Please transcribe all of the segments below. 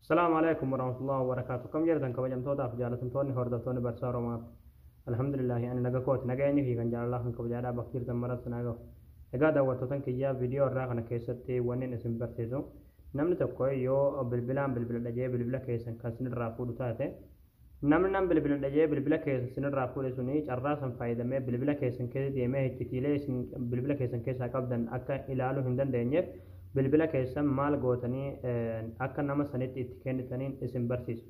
Salaamu alaikum warahmatullahi wabarakatuh. Kam jirtan kabajamtootaaf jaalatamtoonni hordoftoonni barsaa Oromaaf. Alhamdulillahi ani naga kooti naga eenyu fi kan jaalalaa kan kabajaadhaa bakka jirtan maratti naa gahu. Egaa daawwattootan kiyyaa viidiyoo irraa kana keessatti wannin isin barsiisu namni tokko yoo bilbilaan bilbiladha jee bilbila keessan kan sinirraa fuudhu taate Namni nan bilbiladha jedhee bilbila keessan isin irraa fuudhe suni carraa san fayyadamee bilbila keessan keessa deemee hiccitiilee isin bilbila keessan keessaa qabdan akka ilaaluu hin dandeenyeef bilbila keessan maal gootanii akka nama sanitti itti kennitaniin isin barsiisa.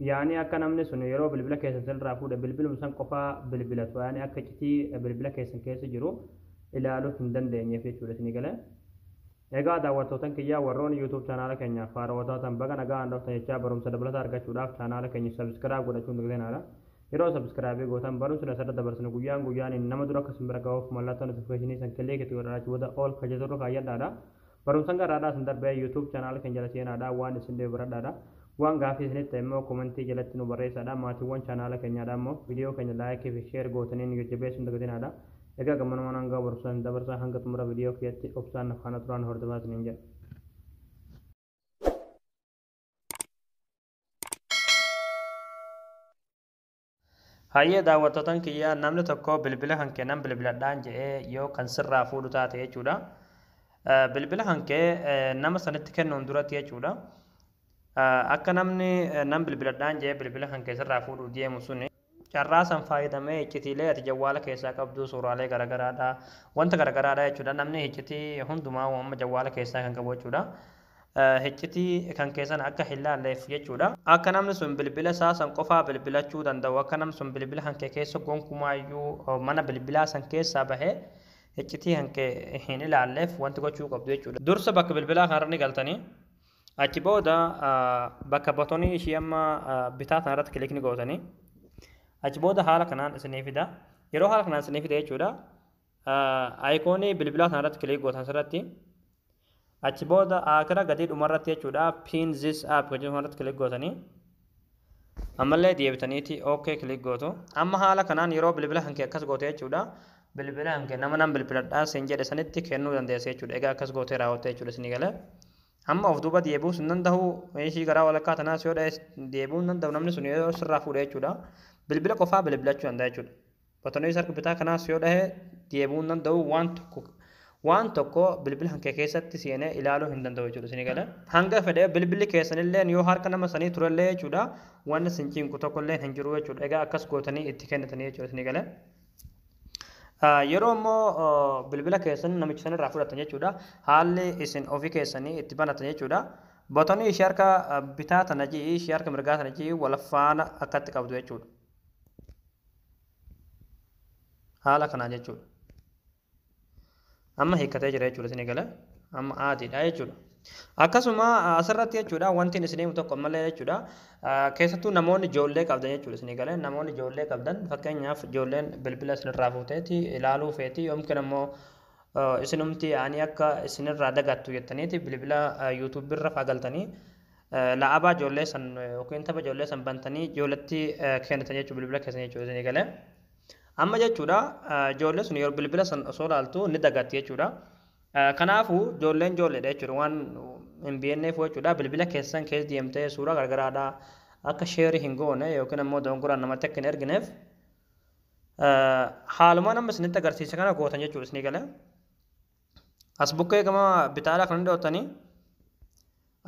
Yaani akka namni sun yeroo bilbila keessan isin irraa fuudhe bilbilum san qofaa bilbilatu yaani akka iccitii bilbila keessan keessa jiru ilaaluu hin dandeenyeef jechuudha isinii galee. Egaa daawwattootan kiyya warrooni YouTube chanaala keenyaaf haarawaa taatan baga naga'aan dhuftan jechaa barumsa dabalataa argachuudhaaf chanaala keenya subscribe godhachuu hin dagatinaa. Yeroo subscribe gootan barumsni asirra dabarsinu guyyaan guyyaaniin nama dura akka isin bira ga'uuf mallattoo notification san click itti godhadhaa achi booda all ka jettu irra kaayyadhaadha. Barumsan garraadhaa isin darbee YouTube chanaala keenya jala seenaadha waan isin dhibe baradhaadha. Waan gaafii isinitti ta'e immoo komentii jalatti nu barreessaadha maatiiwwan chanaala keenyaadha immoo video keenya like fi share gootanii nu jajjabeessuu hin dagatinaadha. Egaa gammanumaan hangaa barumsaa hin dabarsaa hanga xumura viidiyoo kiyyatti obsaan na faana turaan hordofaa isiniin jedha. Hayyee daawwattootan kiyyaa namni tokko bilbila kan kee nan bilbiladhaan jedhee yoo kan sirraa fuudhu taate jechuudha. Bilbila kan kee nama sanitti kennuun duratti jechuudha. Akka namni nan bilbiladhaan jedhee bilbila kan kee sirraa fuudhu deemu suni Carraa san faayadamee hiccitiilee ati jawwaala keessaa qabduu suuraalee garagaraadha wanta garagaraadha jechuudha namni hiccitii hundumaa amma jawwaala keessaa kan qabu jechuudha hiccitii kan keessan akka hin laalleef jechuudha akka namni sun bilbila isaa san qofaa bilbilachuu danda'u akka namni sun bilbila kan kee keessa gonkumaayyuu mana bilbilaa san keessaa bahee hiccitii kan kee hin ilaalleef wanti gochuu qabdu jechuudha dursa bakka bilbilaa kanarra ni galtanii Achi booda bakka batonii ishii amma bitaa sana irratti kilikni gootanii achi booda haala kanaan isinii fida. Yeroo haala kanaan isinii fida jechuudha. Ayikoonii bilbilaa sana irratti kilik gootan asirratti achi booda akira gadii dhuma irratti jechuudha pin this app kan jedhamu irratti kilik gootanii ammallee deebitaniiti ok click gootu amma haala kanaan yeroo bilbila kan kee akkas goote jechuudha bilbila kan kee nama nan bilbiladhaa sin jedhe sanitti kennuu dandeessa jechuudha egaa akkas gootee raawwatte jechuudha isinii galee amma of duuba deebi'uu sin danda'u ishii garaa walakkaa tanaas yoo dha'e deebi'uu hin danda'u namni sun yoo sirraa fuudhe jechuudha bilbila qofaa bilbilachuu danda'a jechuudha Batonees harka bitaa kanaas yoo dhahe deebi'uu hin danda'u waan tokko waan tokko bilbila kan kee keessatti seenee ilaaluu hin danda'u jechuudha isin gala. Hanga fedhe bilbilli keessanillee yoo harka nama sanii turellee jechuudha waan isin cinqu tokkollee hin jiru jechuudha egaa akkas gootanii itti kennitanii jechuudha isin gala. Yeroo immoo bilbila keessan namicha sanirraa fudhatan jechuudha haalli isin ofii keessanii itti banatan jechuudha. Botonii ishee harka bitaa tana ji'i ishee harka mirgaa tana ji'i wal faana akkatti qabdu jechuudha. haala kanaa jechuudha. Amma hiikkatee jira jechuudha isin eegala. Amma aadiidha jechuudha. Akkasuma asirratti jechuudha wanti isin himu tokko malee jechuudha. Keessattuu namoonni ijoollee qabdan jechuudha isin eegala. Namoonni ijoollee qabdan fakkeenyaaf ijoolleen bilbila isinirraa fuuteeti ilaaluu feeti yookiin ammoo isinumti ani akka isinirraa dagattu jettaniiti bilbila yuutuubirra faagaltanii La'abaa ijoollee san yookiin tapha ijoollee san bantanii ijoolletti kennitan jechuudha bilbila keessan jechuudha isinii galee. Amma jechuudha ijoollee sun yeroo bilbila san osoo ilaaltu ni dagatti jechuudha. Kanaafuu ijoolleen ijoolleedha jechuudha waan hin beekneef jechuudha bilbila keessan keessa deemtee suuraa gargaraadha akka sheerii hin goone yookiin ammoo dogongoraan namatti akka hin ergineef haaluma nama isinitti agarsiise kana gootan jechuudha isinii galee. as bukkee gama bitaadhaa kan dhiyoottanii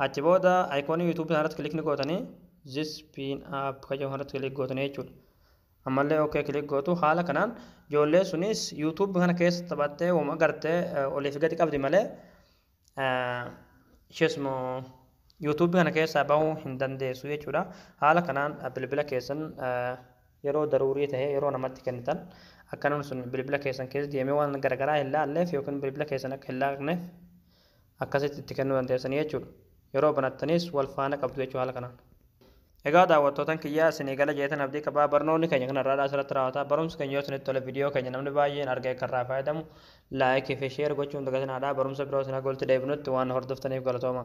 achi booda ayikoonii yuutuubii kanarratti kilikni gootanii zis piin app kan jedhu kanarratti kilik gootanii jechuudha. Ammallee ok kilik gootu haala kanaan ijoollee sunis yuutuubii kana keessa taphattee wama gartee oliif gadi qabdi malee isheesuma yuutuubii kana keessaa bahuu hin dandeessu jechuudha. Haala kanaan bilbila keessan yeroo daruurii tahe yeroo namatti kennitan akka namni sun bilbila keessan keessa deemee waan garagaraa hin laalleef yookiin bilbila keessan akka hin laaqneef akkasitti itti kennuu dandeessanii jechuudha. Yeroo banattanis wal faana qabdu jechuu haala kanaan. Egaa daawwattootan kiyyaa isinii gala jeetan abdii qabaa barnoonni keenya kan har'aadhaa asirratti raawwata barumsi keenya yoo isinitti tole viidiyoo keenya namni baay'een argee akka irraa fayyadamu laayikii fi sheer gochuun dagatinaadhaa barumsa biroo isin hagoolti deebinutti waan hordoftaniif galatooma.